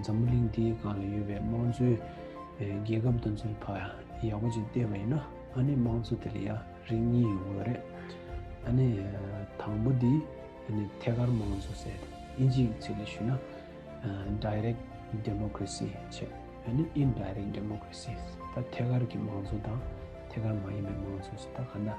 འཛམ་བུ་གླིང་འདིའི་སྒང་ལ་ཡོད་པའི་དམངས་གཙོའི་རྒྱལ་ཁབ་དང་མཚོན་པ་ཡག་པོ་ཅིག་བལྟས་པ་ཡིན་ན་ཨ་ནི་དམངས་གཙོ་དེ་ལ་ཡང་རིགས་གཉིས་ཡོད་དགོས་རེད། ཨ་ནི་དང་པོ་དེ་ཐད་ཀར་དམངས་གཙོ་ཟེར། དབྱིན་ཇིའི་ཚིག་ལ་ཞུས་ན Direct Democracy ཆེ། ཨ་ནི Indirect Democracy། ད་ཐད་ཀར་གྱི་དམངས་གཙོ་དང་ཐད་ཀར་མ་ཡིན་པའི་དམངས་གཙོ་ཟེར་ད་ག་འདྲ།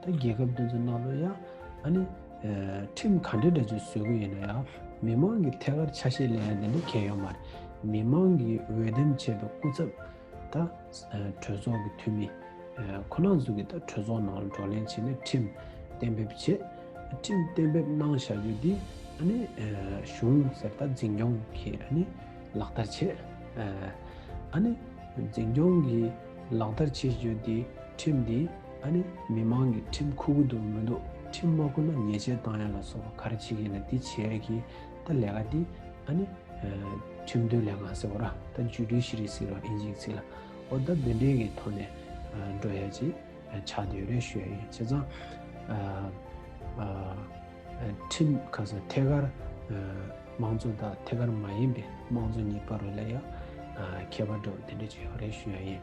ད་རྒྱལ་ཁབ་དེ་ཚོ་ནང་དུ་ཡང་ཨ་ནི་ཁྲིམས་ག་འདྲ་འདྲ་ཅིག་བཟོས་གི་ཡིན་ན་ཡང་མི་མང་གི་ཐད་ཀར་ཆ་ཤས་ལེན་ཡ་དེ་འདྲ་གལ་ཡོད་མ་རེད། མི་མང་གི་འོས་འདེམས་བྱས་པའི་སྐུ་ཚབ་ད་གྲོས་ཚོགས་ཀྱི་འཐུས་མི་ཁོ་ན་ཚོ་གིས་ད་གྲོས་ཚོགས་ནང་ལ་བགྲོ་གླེང་བྱས་ནས་ཁྲིམས་གཏན་འབེབས་བྱེད། ཁྲིམས་གཏན་འབེབས་གནང་བྱ་རྒྱུ་དེ་ཨ་ནི་གཞུང་ཟེར་ད་འཛིན་སྐྱོང་གིས་ཨ་ནི་ལག་བསྟར་བྱེད། ཨ་ནི་འཛིན་སྐྱོང་གིས་ལག་བསྟར་བྱེད་རྒྱུ་དེ་ཁྲིམས་དེ་ད་ནི་མི་མང་གིས་ཁྲིམས་ཁུར་གི་འདུག་མི་འདུག་ཁྲིམས་མ་ཁུར་ན་ཉེས་ཆད་བཏང་ཡ་ལ་སོགས་ག་རེ་བྱེད་ཀྱི་ཡིན་ལ་འདི་བྱས་གི་ད་ལས་ཀ་འདི་ད་ནི་ཁྲིམས་དོན་ལས་ཁང་ཟེར་བ་ར་ད་འཇུས་འདྲུལ་ཞི་རིག་ཟེར་བ་ཨིན་ཅིག་ཚིག་ལ་འོ་ད་འདི་འདྲས་ཀྱི་ཐོག་ནས་འགྲོ་ཡ་ཅིག་ཆགས་འདི་ཡོད་རེད་ཤོད་ཡ་ཡིན་བྱས་ཙང་ཁྲིམས་ཁ་ས་ཐད་ཀར་མང་གཙོ་དང་ཐད་ཀར་མ་ཡིན་པའི་མང་གཙོ་གཉིས་པ་རུ་ལས་ཡ་ཁྱད་པར་འདྲ་བོ་འདི་འདྲས་བྱས་ཡོད་རེད་ཤོད་ཡ་ཡིན།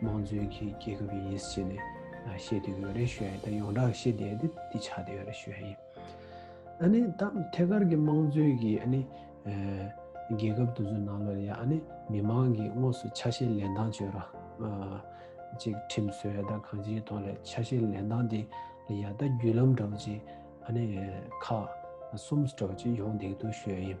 དམངས་གཙོའི་གི་རྒྱལ་ཁབ་ཡིན་ཟེར་ནས་བཤད་དུས་ཡོད་རེད་ཞུ་ཡ་ཡིན་ད་ཡོངས་གྲགས་ཤེས་བསྡད་དེ་འདི་ཆགས་བསྡད་ཡོད་རེད་ཞུ་ཡ་ཡིན། ཨ་ནི་ད་ཐད་ཀར་གི་དམངས་གཙོའི་གི་ཨ་ནི་རྒྱལ་ཁབ་དུ་ཚོད་ནང་ལོ་རེ་ཡ་ཨ་ནི་མི་དམངས་གི་དངོས་སུ་ཆ་ཤས་ལེན་སྟངས་བྱོས་ར་ཅིག་ཁྲིམས་སྲོལ་ཡ་ད་གང་ཅིའི་ཐོག་ལས་ཆ་ཤས་ལེན་སྟངས་དེ་ལ་ཡ་ད་བརྒྱུད་ལམ་འདྲ་བོ་ཅིག་ཨ་ནི་ཁག་གསུམ་འདྲ་བོ་ཅིག་ཡོང་བསྡད་འདུག་ཞུ་ཡ་ཡིན།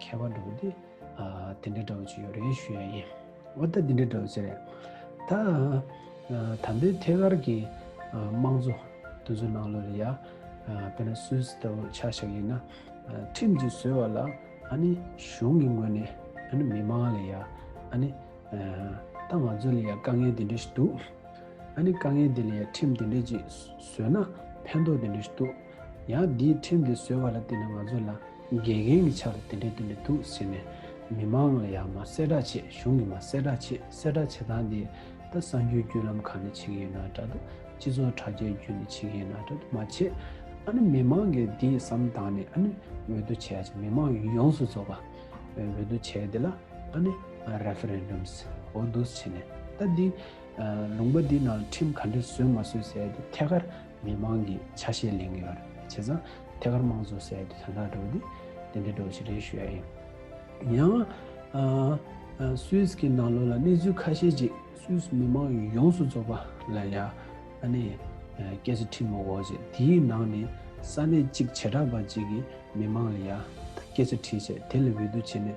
ཁྱད་པར་འགྲོ་དེ་དེ་འདྲ་འདྲ་བ་ཅིག་ཡོད་རེད་ཞུ་ཡ་ཡིན་འོ་ད་དེ་འདྲ་འདྲ་བ་ཅིག་རེད་ད་ད་འདི་ཐད་ཀར་གྱི་དམངས་གཙོ་དོན་གཟོ་ནང་ལོ་རེ་ཡ་པེ་ན་སུས་ལྟ་བུ་ཆ་ཞག་ཡིན་ན་ཁྲིམས་ཀྱི་བཟོས་བ་ལ་ཨ་ནི་གཞུང་གི་ངོས་ནས་ཨ་ནི་མི་མང་ལ་ཡ་ཨ་ནི་ད་ང་ཚོ་ལ་ཡ་དཀའ་ངལ་དེ་འདྲ་ཞིག་འདུག་ཨ་ནི་དཀའ་ངལ་དེ་ལ་ཡ་ཁྲིམས་དེ་འདྲ་ཅིག་བཟོས་ན་ཕན་ཐོག་དེ་འདྲ་ཞིག་འདུག། ཡང་འདིའི་ཁྲིམས་དེ་བཟོས་བ་ལ་བརྟེན་ནས་ང་ཚོ་ལ་དགེ་རྒན་གྱི་ཆ་ལ་དེ་འདྲའི་དོན་དེ་འདུག་ཟེར་ནས་མི་མང་ལ་ཡང་མ་གསལ་བསྒྲགས་བྱེད་གཞུང་གིས་མ་གསལ་བསྒྲགས་བྱེད་གསལ་བསྒྲགས་བྱེད་སྟངས་དེ་ད་གསར་འགྱུར་བརྒྱུད་ལམ་ཁག་ནས་བྱེད་ཀྱི་ཡོད་ན་འདྲ་འདུག་སྤྱི་ཚོགས་དྲ་རྒྱའི་བརྒྱུད་ནས་བྱེད་ཀྱི་ཡོད་ན་འདྲ་འདུག་མ་བྱེད་ཨ་ནི་མི་མང་གིས་འདི་བསམ་བཏང་ནས་ཨ་ནི་འོས་བསྡུ་བྱས་ཀྱི་མི་མང་ཡོངས་སུ་རྫོགས་པ་འོས་བསྡུ་བྱས་དེ་ལ་ཨ་ནི Referendums འོས་བསྡུ་བྱས་ནས་ད་འདི་ལུང་པ་འདི་ནང་ཁྲིམས་ག་འདྲས་བཟོས་མ་བཟོས་ཟེར་དེ་ཐད་ཀར། མི་མང་གི་ཆ་ཤས་ལེན་གི་ཡོད་རེད་བྱས་ཙང་ཐད་ཀར་དམངས་གཙོ་ཟེར་དེ་དོན་དག་སྒྲོག་དེ་དེ་འདྲའི་སྒྲོག་བྱེད་རེད་ཞུ་ཡ་ཡིན། ཡང་སུད་ཀྱི་ནང་ལོག་ལ་གནས་ཚུལ་ཁ་ཤས་ཅིག་སུད་མི་མང་ཡོངས་སུ་རྫོགས་པ་ལ་ཡ་ཨ་ནི་སྐད་ཆ་ཁྲིད་མོ་གོ་བྱས་དེའི་ནང་ནས་ས་གནས་གཅིག་བྱེ་བྲག་པ་ཅིག་གི་མི་མང་ལ་ཡ་ད་སྐད་ཆ་ཁྲིད་བྱས་དེ་ལ་འོས་བསྡུ་བྱས་ནས་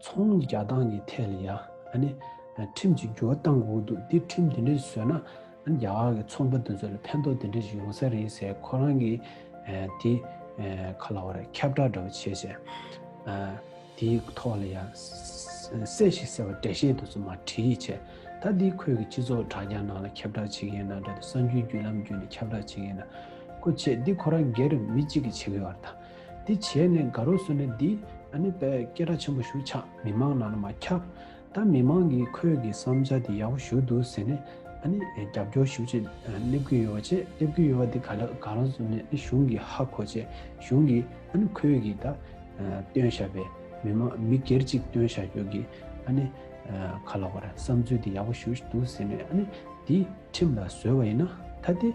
ཚོང་གཉིས་རྒྱག་སྟངས་ཀྱི་ཐད་ལ་ཡང་ཁྲིམས་གཅིག་གྱུར་གཏང་དགོས་འདུག་འདིར་ཁྲིམས་དེ་འདྲ་ཞིག་བཟོས་ན་རྒྱ་གར་གྱི་ཚོང་པ་དེ་ཚོ་ལ་ཕན་ཐོགས་དེ་འདྲ་ཞིག་ཡོང་ས་རེད་ཟེར་ཁོ་རང་གིས་དེ་ག་ལ་བ་རེད་ཁྱབ་བསྒྲགས་འདྲ་བོ་བྱས་ཟེར། དེའི་ཐོག་ལ་ཡང་གསལ་ཞིག་ཟེར་བ་འགྲེལ་བཤད་དེ་ཚོ་མ་བྲིས་ཡིད་ཆེས་ད་འདི་ཁོས་ཀྱི་སྤྱི་ཚོགས་དྲ་རྒྱ་ནང་ལ་ཁྱབ་བསྒྲགས་བྱེད་མཁན་དང་འདྲ་དེ་གསང་རྒྱུའི་བརྒྱུད་ལམ་བརྒྱུད་ནས་ཁྱབ་བསྒྲགས་བྱེད་མཁན་ན་ཁོ་བྱས་འདི་ཁོ་རང་སྒེར་མི་གཅིག་གིས་བྱེད་དགོས་བ་དང། དེ་བྱས་ནས་དགའ་རོགས་སུ་ནས་འདི་ཨ་ནི་པས་སྐད་སྒྲ་ཆེན་པོ་ཞུ་ཆག་མི་མང་ནང་ན་མ་ཁྱབ། ད་མི་མང་གིས་ཁོས་གི་བསམ་བྱ་དེ་ཡག་པོ་ཞུ་འདུག་ཟེར་ནས་ཨ་ནི་རྒྱབ་སྐྱོར་ཞུ་ཆེད་སླེབས་ཀྱི་ཡོད་ཅེས་སླེབས་ཀྱི་ཡོད་དེ་ག་ལ་དགའ་རོགས་སུ་ནས་གཞུང་གི་ཧ་གོ་ཅེས་གཞུང་གིས་ཨ་ནི་ཁོས་གི་ད་བཏོན་ཞབས་པས་མི་མང་མི་སྒེར་ཅིག་བཏོན་ཞག་ཁྱོད་གི་ཨ་ནི་ག་ལ་བར་བསམ་ཚུལ་དེ་ཡག་པོ་ཞུ་འདུག་ཟེར་ནས་ཨ་ནི་འདི་ཁྲིམས་ལ་བཟོས་པ་ཡིན་ན་ད་དེ།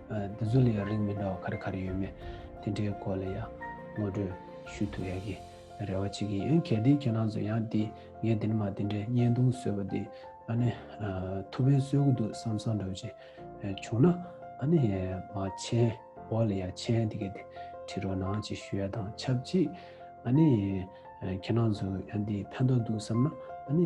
འདི་ཚོ་ལས་ཡང་རིགས་མི་འདྲ་བ་ག་རེ་ག་རེ་ཡོད་མེད་དེ་འདྲའི་སྐོར་ལ་ཡང་ངོ་སྤྲོད་ཞུ་ཐུབ་ཡག་གི་རེ་བ་བྱེད་ཀྱི་ཡིན་གལ་ཏེ་ཁྱེད་རང་ཚོ་ཡང་དེ་ངས་དེ་འདྲ་མ་དེ་འདྲ་བརྙན་ཐུང་བཟོས་པ་དེ་ཨ་ནི་ཐུགས་ཕན་གསོས་ཀྱི་འདུག་བསམ་བསམ་འདྲ་བྱེད་བྱུང་ན་ཨ་ནི་མ་མཆན་འོག་ལ་ཡང་མཆན་དེ་ག་དེ་བྲིས་རོགས་གནང་བཅས་ཞུ་ཡ་དང་ཆབས་ཅིག་ཨ་ནི་ཁྱེད་རང་ཚོ་ཡང་དེ་ཕན་ཐོག་འདུག་བསམ་ན་ཨ་ནི།